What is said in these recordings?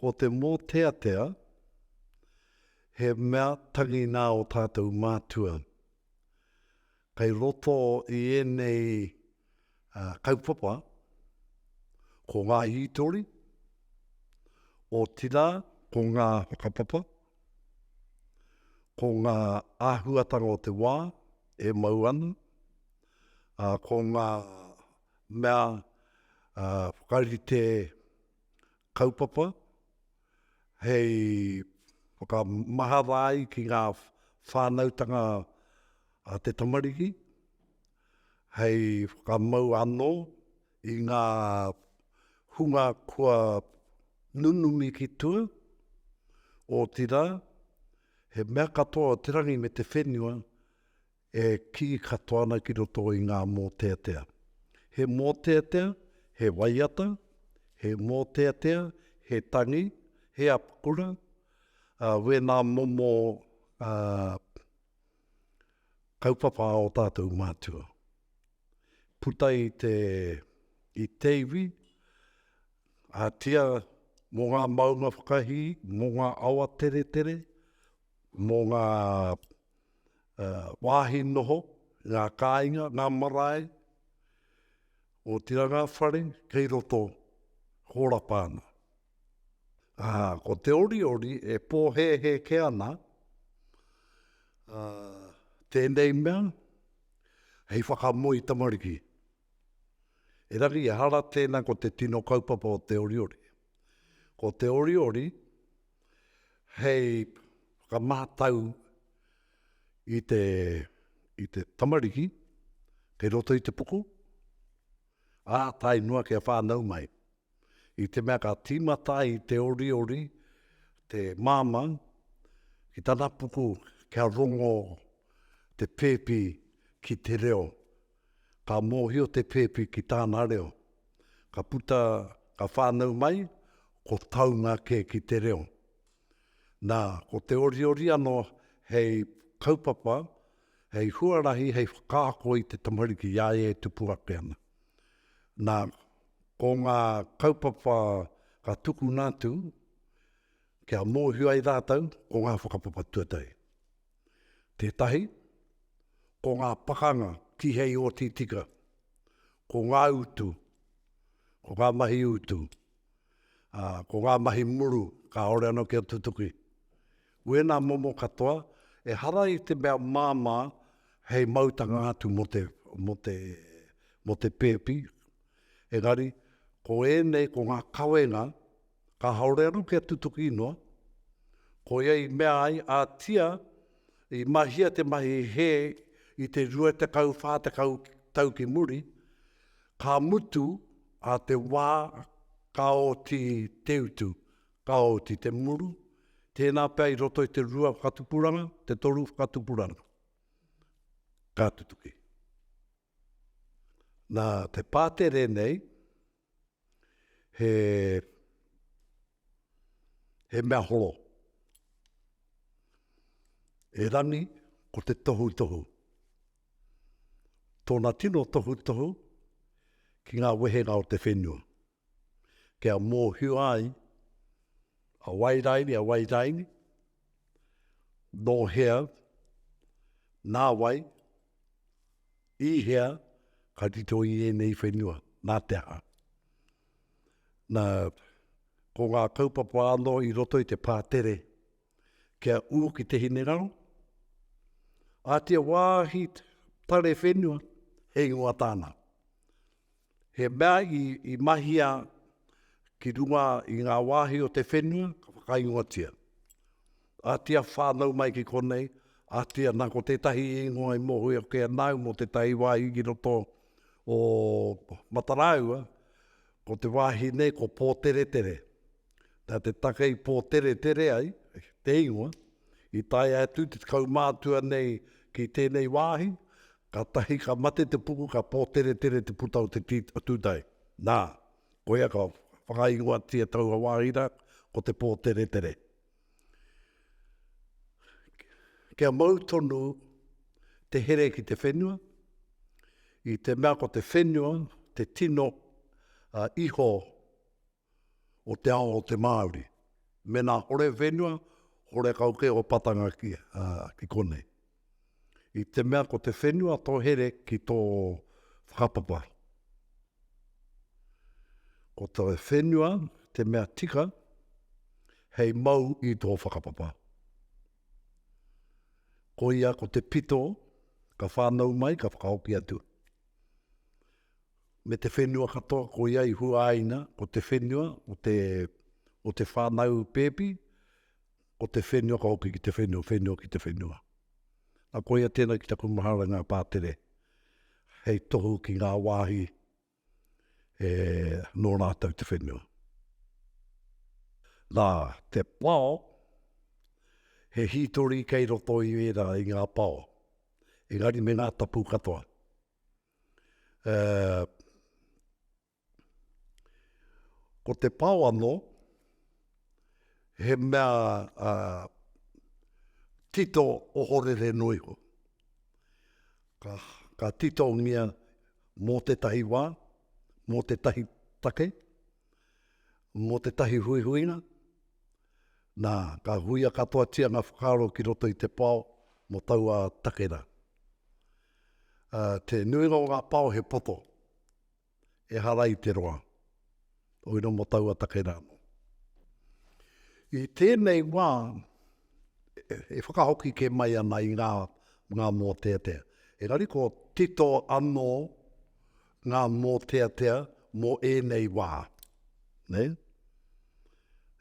Ko te mōteatea, he mea tangi nā ō tātou mātua. Kei roto i ēnei kaupapa ko ngā hītori, otirā ko ngā whakapapa, ko ngā āhuatanga o te wā e mau ana, ā, ko ngā mea ā, whakarite kaupapa hei whakamahara ai ki ngā whānautanga a te tamariki, hei whakamau anō i ngā hunga kua nunumi ki tua, otirā, he mea katoa te rangi me te whenua e kī katoa ana ki roto i ngā mōteatea. He mōteatea, he waiata, he mōteatea, he tangi, he apakura, ā, wēnā momo, ā, Kaupapa o tātou mātua. Puta i te, i te iwi, a tia mō ngā maunga whakahī, mō ngā awa teretere, mō ngā wāhi noho, ngā kāinga, ngā marae, otirā ngā whare kei roto, hōrapa ana. Ā, ko te oriori e pōhēhēke ana, ā, tēnei mea, hei whakamoe i tamariki. Erangi, ehara tēnā ko te tino kaupapa o te oriori. Ko te oriori hei whakamātau i te, i te tamariki kei roto i te puku, ā tae noa kia whānau mai. I te mea ka tīmata ai te oriori, te māmau, ki tana puku kia rongo te pēpi ki te reo. Ka mōhio te pēpi ki tāna reo. Ka puta, ka whānau mai, ko taunga kē ki te reo. Nā, ko te oriori anō hei kaupapa, hei huarahi, hei whakaako i te tamariki i a ia e tupu ake ana. Nā, ko ngā kaupapa ka tukuna atu kia mōhio ai rātou ko ngā whakapapa tuatahi. Tētahi, ko ngā pakanga tihei oti tika, ko ngā utu, ko ngā mahi utu, ā, ko ngā mahi muru kāore anō kia tutuki. Wēnā momo katoa, ehara i te mea māmā hei mautanga atu mō te, mō te, mō te pēpi, engari, ko ēnei, ko ngā kawenga, kāore anō kia tutuki noa, koia i mea ai a Tia i mahia te mahi hē i te 20, 40 tau ki muri, ka mutu a te wā ka oti te utu, Ka oti te muru, tēnā pea i roto i te rua whakatupuranga, te toru whakatupuranga. Ka tutuki. Nā te pātere nei, he, he mea holo. E Rani, ko te tohutohu. Tōna tino tohutohu ki ngā wehenga o te whenua. kia mōhio ai a Wairaini, a Wairaini, nō hea, nā wai, i hea ka tito i ēnei whenua, nā te aha. Nā, ko ngā kaupapa anō i roto i te pātere, kia ū ki te hineraro, a te wāhi pare whenua he ingoa tāna. He mea i, i mahia ki runga i ngā wāhi o te whenua, ka whakaingoatia. A tia whānau mai ki konei, a tia nā ko tētahi ingoa i mohu e ke anau mō tētahi wāhi ki roto o Matarāua, ko te wāhi nei ko Pōteretere. Nā te take i pōteretere ai te ingoa, i tae atu te kaumātua nei ki tēnei wāhi, kātahi ka mate te puku ka pōteretere te puta o te tūtae. Nā, koia ka whakaingoatia taua wāhi rā, ko Te Pōteretere. Kia mau tonu te here ki te whenua, i te mea ko te whenua te tino iho o te ao o te Māori. Mēnā hore whenua, hore kau kē o patanga ki, ā, ki konei. I te mea ko te whenua tō here ki tō whakapapa. Ko te whenua te mea tika hei mau i tō whakapapa. Ko ia ko te pito ka whānau mai, ka whakahoki atu. me te whenua katoa ko ia i huaina, ko te whenua o te, o te whānau pēpi, ko te whenua ka hoki ki te whenua, whenua ki te whenua. Nā ko ia tēnā ki taku mahara ngā pātere, hei tohu ki ngā wāhi e nō rātou te whenua. Nā, te pao, he hītori kei roto i ērā i ngā pao, engari me ngā tapu katoa. Ko te pao ano, he mea tito ohorere no iho. Ka tito ngia mo tetahi wa, mo tetahi take, mo tetahi huihuinga, na, ka huia katoatia nga whakaaro ki roto i te pao mo taua take ra. Ā, te nuinga o ngā pao he poto, ehara i te roa, o iro mō taua take rā anō. I tēnei wā, e whakahoki kē mai ana i ngā, ngā mōteatea. Engari ko tito anō ngā mōteatea mō ēnei wā, nē?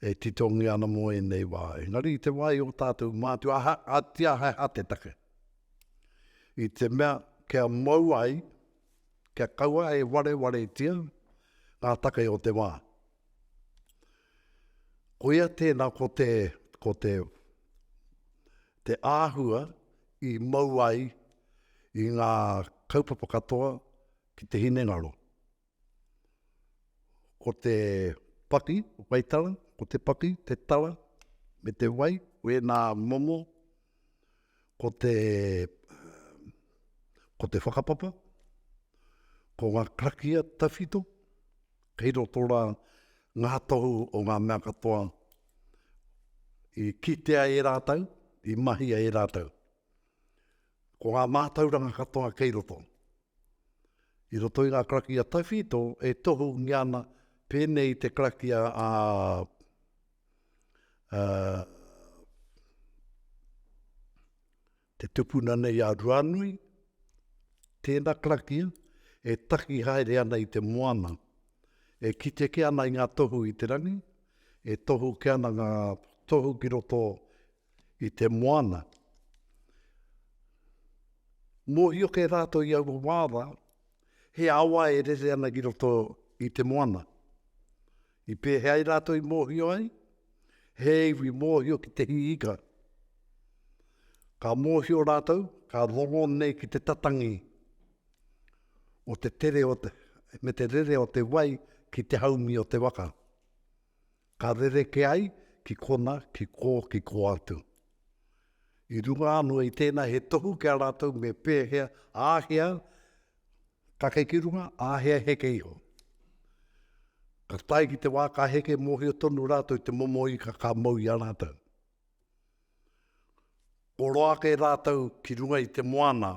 E titongia ana mō ēnei wā. Engari i te wā i ō tātou mātua, aha, ā, tiahaeha te take. i te mea kia mau ai, kia kaua e warewaretia ngā take o te wā. Koia tēnā ko te, ko te, te āhua i mau ai i ngā kaupapa katoa ki te hinengaro. Ko te paki, wai tara, ko te paki, te tara, me te wai, wēnā momo, ko te, ko te whakapapa, ko ngā karakia tawhito, kei roto rā ngā tohu o ngā mea katoa i kitea e rātou, i mahia e rātou. Ko ngā mātauranga katoa kei roto. I roto i ngā karakia tawhito e tohungia ana pēnei i te karakia a te tupuna nei a Ruanui, tēna karakia e taki haere ana i te moana, e kite ke ana i ngā tohu i te rangi, e tohu ke ana ngā tohu ki roto i te moana. Mōhio kē rātou i aua wā rā, he awa e rere ana ki roto i te moana. I pēhea ai rātou i mōhio ai? He iwi mōhio ki te hiika. Ka mōhio rātou, ka rongo nei ki te tatangi o te tere o te, me te rere o te wai ki te haumi o te waka. Ka rerekē ai ki kona, ki kō, ki kō atu. I runga anō i tēnā he tohu ki a rātou me pēhea, āhea kake ki runga, āhea heke iho. Ka tae ki te wā ka heke mōhio tonu rātou i te momo ika ka mau i a rātou. Kua roa ake rātou ki runga i te moana,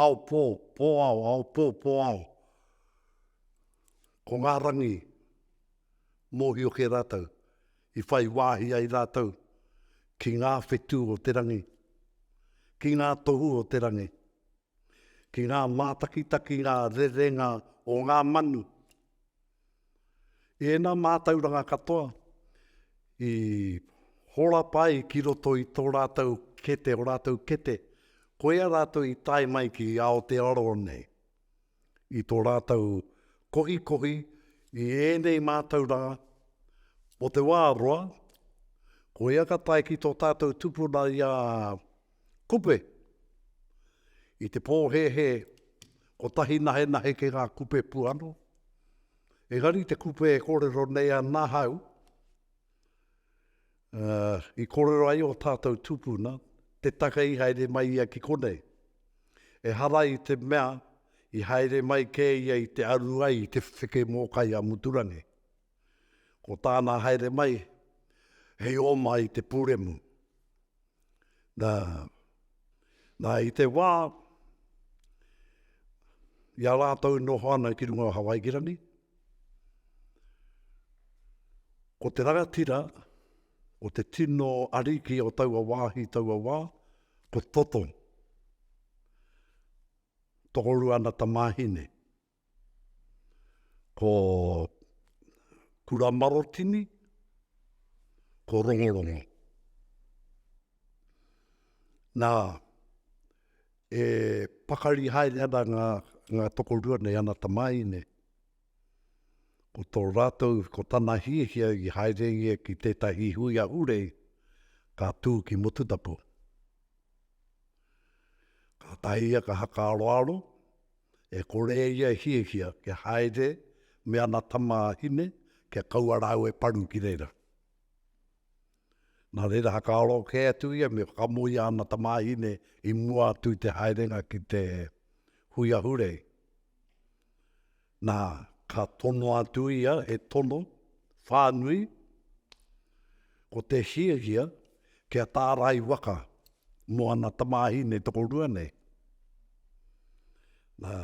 ao pō, pō ao, ao pō, pō ao. Ko ngā rangi, mōhio kē rātou, i whai wāhi ai rātou ki ngā whetū o te rangi, ki ngā tohu o te rangi. ki ngā mātakitakinga rerenga o ngā manu. I ēnā mātauranga katoa i horapa ai ki roto i tō rātou kete, o rātou kete, koia rātou i tae mai ki Aotearoa nei, i tō rātou kohikohi i ēnei mātauranga o te wā roa, koia ka tae ki tō tātou tupuna i a Kupe! I te pōhēhē, kotahi nahenahe ki ngā kupe puano. Engari te kupe e kōrero nei ana hau, uh, i kōrero ai o tātou tūpuna, te take i haere mai ia ki konei. E hara i te mea, i haere mai kē ia i te aru ai i te wheke mōkai a Muturangi. Ko tāna haere mai, hei oma i te pūremu. Nā, nā i te wā, i a rātou i noho ana ki runga o Hawaikirani, ko te rangatira, ko te tino ariki o taua wāhi, taua wā, ko Toto. Tokorua ana tamāhine. Ko Kuramarotini, ko Rongorongo. Nā, e pakari haere ana ngā, ngā tokorua nei ana tamāhine, ko tō rātou, ko tana hiahia i haere ia ki tētahi hui ahurei ka tū ki Motutapu. Kātahi ia ka haka aroaro, E kore e ia e hiahia kia haere me ana tamāhine kia kaua rāua e paru ki reira. Nā reira, whakaaro kē atu ia me whakamoea ana tamāhine i mua atu i te haerenga ki te hui ahurei. Nā, ka tono atu ia, he tono whānui, ko te hiahia kia tārai waka Mō ana tamāhine tokorua nei. Nā,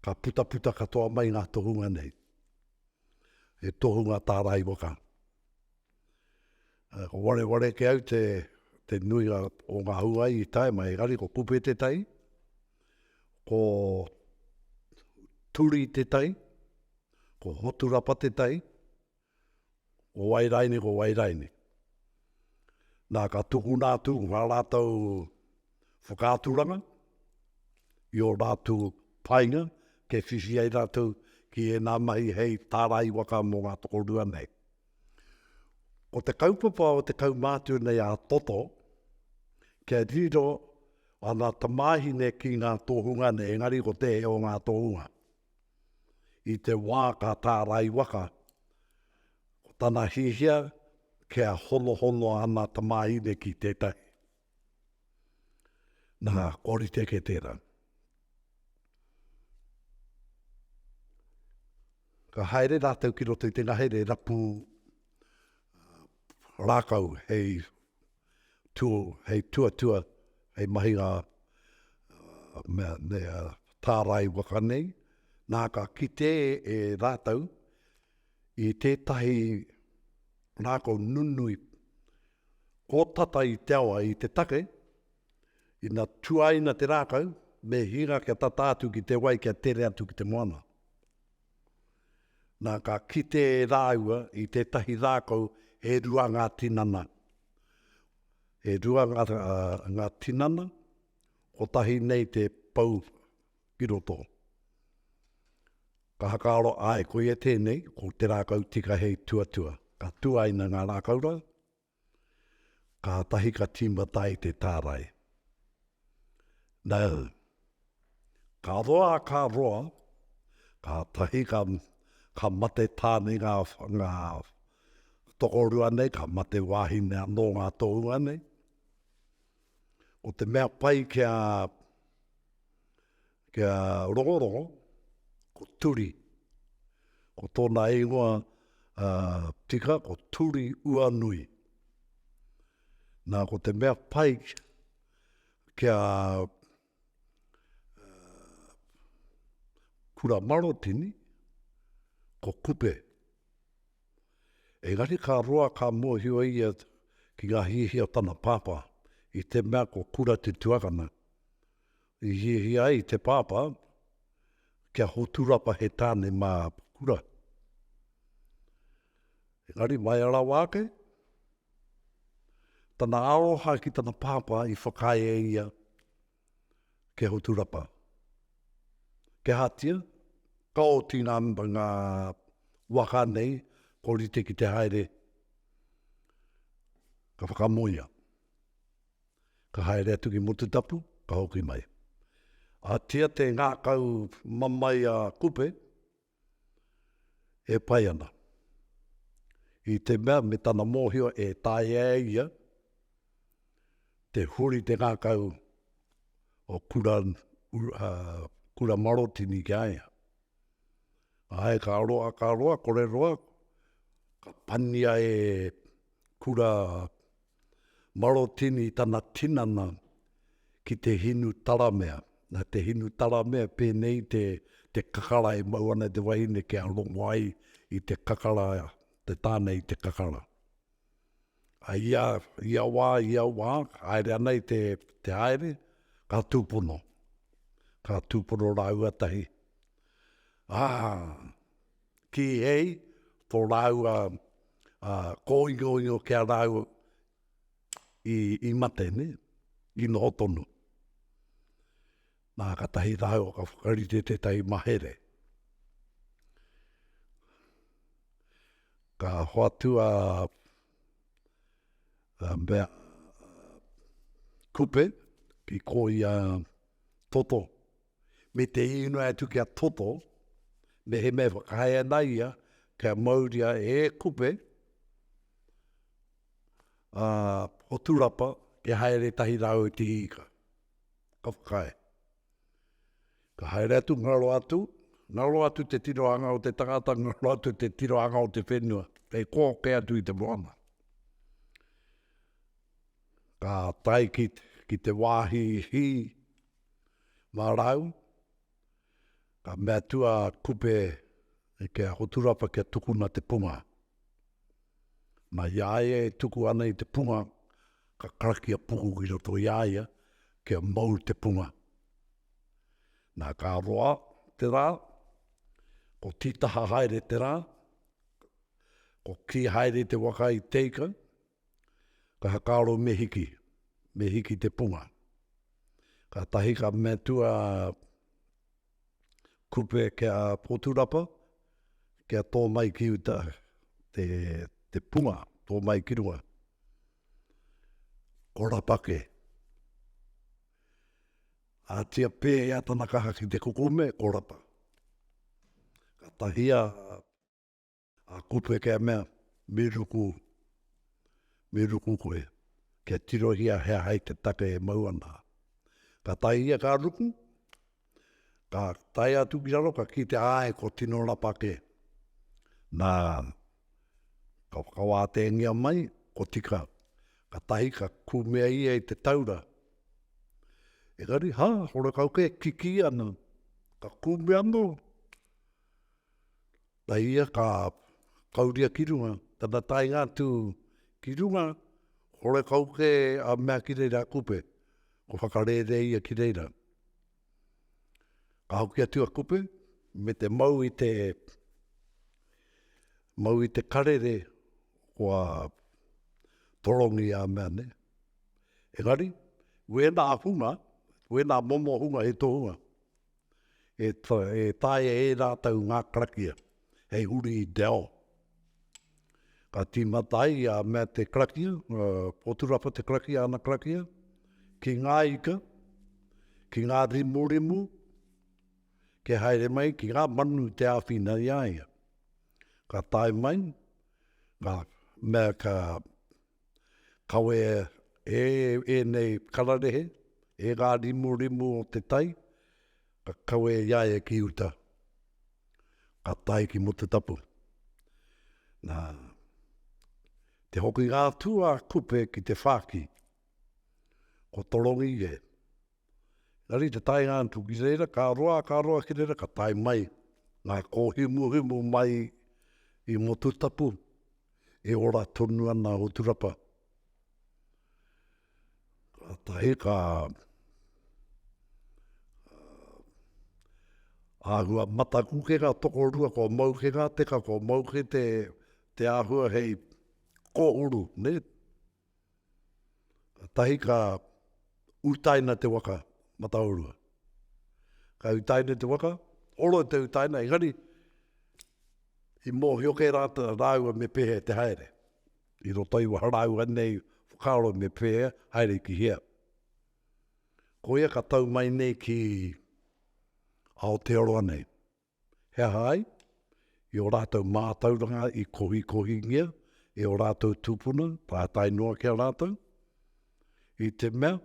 ka putaputa katoa mai ngā tohunga nei. He tohunga tā Raiwaka. Uh, ko wareware ke au te, te nuinga o ngā huai i tae mai, engari ko kupe te tai, ko turi te tai, ko hoturapa te tai, Ko wai raine, ko wai raine. Na, ka tukuna atu nga ratou whakaaturanga i o ratu painga ke whiwhi ai ratou ki ena mahi hei tarai waka mo nga tokorua nei. Ko te kaupapa o te kaumātua nei a Toto, kia riro ana tamāhine ki ngā tohunga nei, engari ko te o ngā tohunga. i te wā ka tārai waka, ko tana hiahia kia honohono ana tamāhine ki tētahi. Nā, kua rite kē tērā. Ka haere rātou ki roto i te ngahere rapu rākau hei tū hei tuatua, hei mahi ngā mea nei a tārai waka nei, nā ka kite e rātou i tētahi rākau nunui kōtata i te awa, i te take, ina tuaina te rākau, me hinga kia tata atu ki te wai kia tere atu ki te moana. Nā, ka kite rāua i tētahi rākau e rua ngā tinana. E rua ngā, ngā tinana, kotahi nei te pou ki roto. Ka whakaaro, āe, koia tēnei, ko te rākau tika hei tuatua. Ka tuaina ngā rākau rā. Kātahi ka tīmata ai te tārai. Nau. Ka roa, ka roa, kātahi ka, ka mate tāne ngā, ngā tokorua nei, ka mate wāhine anō ngā tohunga nei. Ko te mea pai kia, Kia rongorongo, ko Turi. Ko tōna ingoa tika ko Turi Uanui. Nā, ko te mea pai kia kura marotini, ko Kupe. Engari ka roa ka mōhio ia ki ngā hiahia o tana pāpā, i te mea ko Kura te tuakana, I hiahia ai te pāpā kia hoturapa he tāne mā Pukura. Engari mai rawa ake, tana aroha ki tana pāpā i whakaae e ia kia hoturapa. Kia hatia, ka oti ngā, ngā waka nei, ko rite ki te haere, ka whakamoia. Ka haere atu ki Mututapu, ka hoki mai. A tia te ngakau mamae a Kupe, e pai ana. I te mea me tana mohio e taea e ia te huri te ngakau o Kura, Kura Marotini ki a ia. Ae, ka roa, ka roa, kore roa, ka pania e Kura, Marotini tana tinana ki te hinu taramea. Na te hinu taramea penei te te kakara e mau ana te wahine kia rongo ai i te kakara te tana i te kakara. A ia ia wa ia wa haere ana i te te haere ka tupono ka tupono raua tahi a Kīhei tō rāua kōingoingo ki a rāua i mate, nē, i noho tonu. Nā, katahi rāua ka whakarite tētahi mahere. Ka hoatu a Bea Kupe ki kōia toto. me te inoi atu kia toto, mehemea whakahae ana ia kia mauria he kupe a Poturapa kia haere tahi rāua i te hīka. Ka whakae. Ka haere atu, ngaro atu, ngaro atu te tirohanga o te tangata, ngaro atu te tirohanga o te whenua. Kei kōke atu i te moana. Ka tai ki, ki te wāhi hī, Marau, ka mea atu a Kupe e Kia Hoturapa kia tukuna te punga. Na, i a ia e tuku ana i te punga, ka karaki a Puku ki roto i a ia kia mau te punga. Na, ka roa te ra, ko Titaha haere te ra, ko Ki haere te waka i Teikau, Ka whakaaro me hiki, me hiki te punga. Katahi ka metu a Kupe ki a Poturapa, kia to mai ki uta te, te punga, to mai ki runga. Ko Rapake. Atia pe a tana kaha ki te kukume, ko Rapa. Ka tahia A kupe kia mea, mi ruku, mi ruku koe, kia tirohia he aha i te take e mau ana. Ka tae ia ka ruku, ka tae atu ki raro ka kitea ae ko tino rapa ke. Na, ka whakawātēngia mai, ko tika, ka tahi ka kumea ia i te taura. Engari, ha, horekau kē, kikī ana, ka kumea no. Na ia ka kauria ki runga, tana taenga atu ki runga, horekau ke a mea ki reira a Kupe, ko whakarere ia ki reira. Ka hoki atu a Kupe me te mau i te mau i te karere kua torongi a mea ne. Engari, wena hunga, wena momo hunga he tohunga. e taea e rātou ngā karakia hei huri i te ao. Ka tīmata ai a mea te karakia, poturapa te karakia, ana karakia, ki ngā ika, ki ngā rimurimu, ke haere mai ki ngā manu te āwhina i a ia. Ka tae mai, ka mea ka Kawea e ēnei kararehe, e ngā rimurimu o te tai, ka kawe i a ia ki uta, ka tae ki mō te tapu. Nā te hokinga atu a Kupe ki te whāki, ko Torongi e. Engari te taenga atu ki reira, ka roa, ka roa ki reira, ka tae mai ngā kōhimuhimu mai i Motutapu, e ora tonu ana a Uturapa. Kātahi ka āhua mataku ke ngā tokorua, kua mau ke ngā teka, kua mau ke te āhua hei kōhuru, nē? Kātahi ka utaina te waka mataorua. Ka utaina te waka, oro te utaina, engari i mōhio kē rātou rāua me pēhea te haere. I roto i waho rāua nei whakaaro me pēhea, haere ki hea. Koia ka tau mai nei ki Aotearoa nei. He aha ai? I ō rātou mātauranga i kohikohingia e ō rātou tūpuna, pātai noa ki a rātou, i te mea,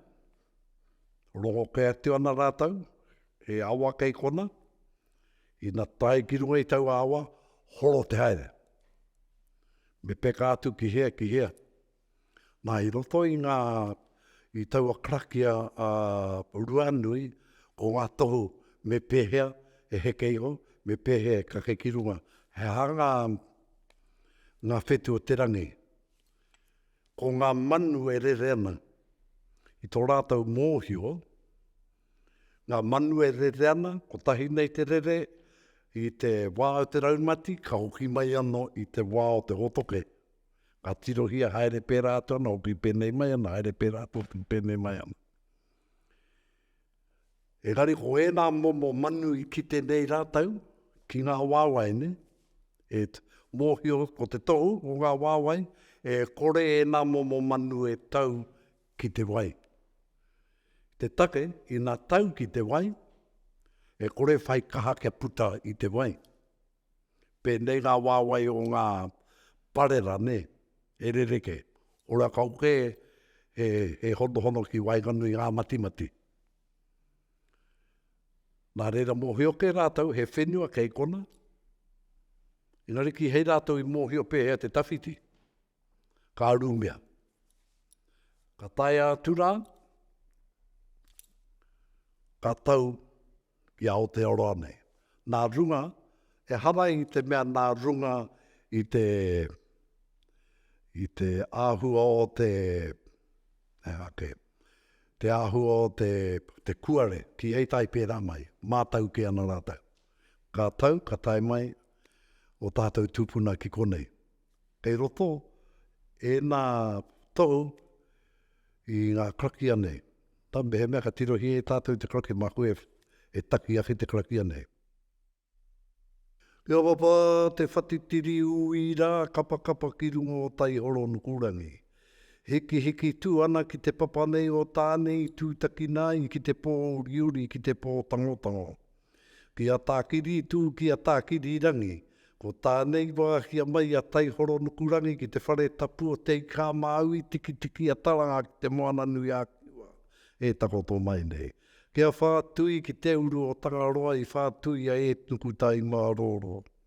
rongo kē atu ana rātou, he awa kei kona, ina tae ki runga i taua awa, horo te haere. Me peka atu ki hea, ki hea. Nā, i roto i ngā, i taua karakia a Ruanui, ko ngā tohu me pēhea e heke iho, me pēhea e kake ki runga. He aha ngā, ngā whetū o te rangi? Ko ngā manu e rere ana, i tō rātou mōhio, ngā manu e rere ana, kotahi nei te rere, i te wā o te raumati, ka hoki mai anō i te wā o te hōtoke. ka tirohia haere pērā atu ana hoki pēnei mai ana, haere pērā atu hoki pēnei mai ana. Engari ko ērā momo manu i kite nei rātou ki ngā wāwae nei, e mōhio ko te tohu o ngā wāwae, e kore ēnā momo manu e tau ki te wai. Te take, ina tau ki te wai, e kore whai kaha kia puta i te wai. Pēnei ngā wāwae o ngā parera, nē, e rerekē. Ora kau kē e honohono ki waenganui ngā matimati. Nā reira mōhio kē rātou he whenua kei konā, engari kihei rātou i mōhio pēhea te tawhiti. Ka rumea. Ka taea atu rā, ka tau ki Aotearoa nei. Nā runga, ehara i te mea nā runga i te, i te āhua o te, he aha kē, te āhua o te, te kuare, ki hei tai pērā mai, mātau kē ana rātau. Ka tau, ka tae mai ō tātau tūpuna ki konei, Kei roto ēnā tohu i ngā karakia nei. Nā, mehemea ka tirohia e tātou te karakia, māku e, e taki ake te karakia nei. Kia papa te whatitiri ui rā, kapakapa ki runga o Taihoro Nukurangi. Hikihiki tū ana ki te papa nei o Tāne i tūtakina ai ki te pōuriuri, ki te pōtangotango. Ki a Tākirītū, ki a Tākirirangi. Ko tānei wā kia mai a Taihoronukurangi ki te whare tapu o Te Ika-a-Māui tikitiki a Taranga ki te Moana-nui-a-Kiwa e takoto mai nei. Ki a Whātui, ki te uru o Tangaroa i whātuia e Nukutaimārōrō.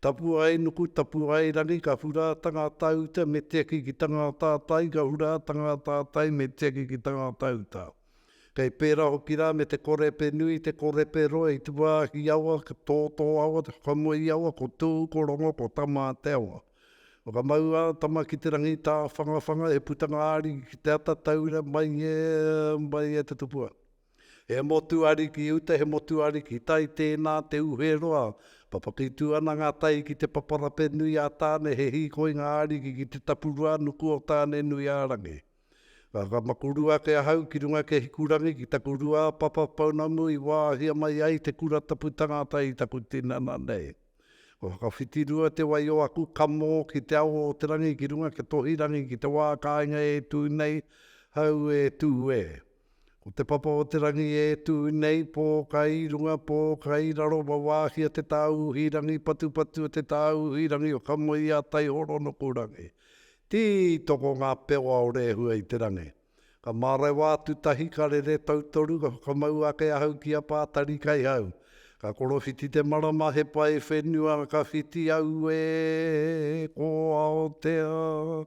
Tapu ai nuku, tapu ai rangi, ka hura a tangata uta me tiaki ki tangata tai, ka hura a tangata tai me tiaki ki tangata uta. Kei pera hoki ra me te korepe nui, te korepe roa i tuahi awa, to to awa, te whakamoi awa, ko tu, ko rongo, ko tama te awa. Whakamau a tama ki te rangi ta whanga whanga e putanga ariki ki te ata taura mai e, mai e te tupua. He motuariki uta, he motuariki tai, tēnā te uhe roa. Papakitū ana ngā tai ki te paparape nui a Tāne, he hīkoi ngā ariki ki te tapurua nuku o Tāne-nui-ā-rangi. Ka whakamakuru ake ahau ki runga ki Hikurangi ki taku rua a Papa pounamu i wāhia mai ai te kura tapu tangata i taku tinana nei. Ka whakawhitirua te wai o aku kamo ki Te Awa o te Rangi ki runga ki Tohirangi ki te wā kāinga e tū nei, hau e tū e. Ko Te Papa o te Rangi e tū nei, pō kai runga, pō kai raro, wawāhia te tāuhi rangi patupatu o te tāuhi rangi o Kamoia, Taihoro, Nokurangi. Tī toko ngā pewa o Rehua i te rangi. Ka mārewa atu tahi, ka rere tautoru, ka whakamau ake ahau ki a Pātari Kaihau. Ka korowhiti te marama, he pae whenua, ka whiti, auē, ko Aotea,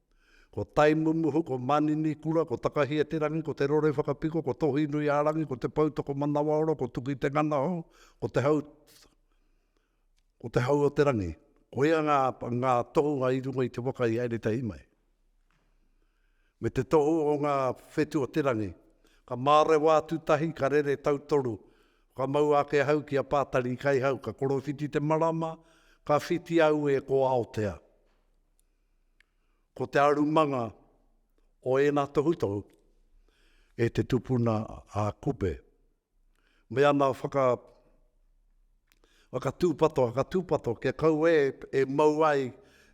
Ko Taimumuhu, ko Maninikura, ko Takahia-te-rangi, ko Te Rorewhakapiko, ko Tohinui-a-rangi, ko Te Poutoko-manawaoro, ko Tuki-te-nganahau, ko Te Hau, ko Te Hau-o-te-rangi. Koia ngā, ngā tohunga i runga i te waka i haere tahi mai. Me te tohu o ngā whetu o te rangi. Ka mārewa atu tahi, ka rere tautoru. Whakamaua ake ahau ki a Pātari i Kaihau, ka korowhiti te marama, ka whiti au e ko Aotea. Ko te arumanga o ēnā tohutohu e te tupuna a Kupe, me ana whaka, whaka tūpato, whaka tūpato kia kau e, e mau ai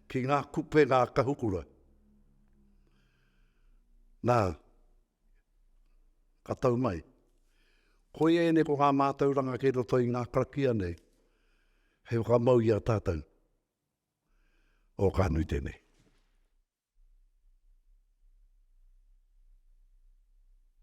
ki ngā kupe ngā kahukura. Nā, ka tau mai. Koia ēnei ko ngā mātauranga kei roto i ngā karakia nei, hei whakamau i a tātou. o ka nui tenei.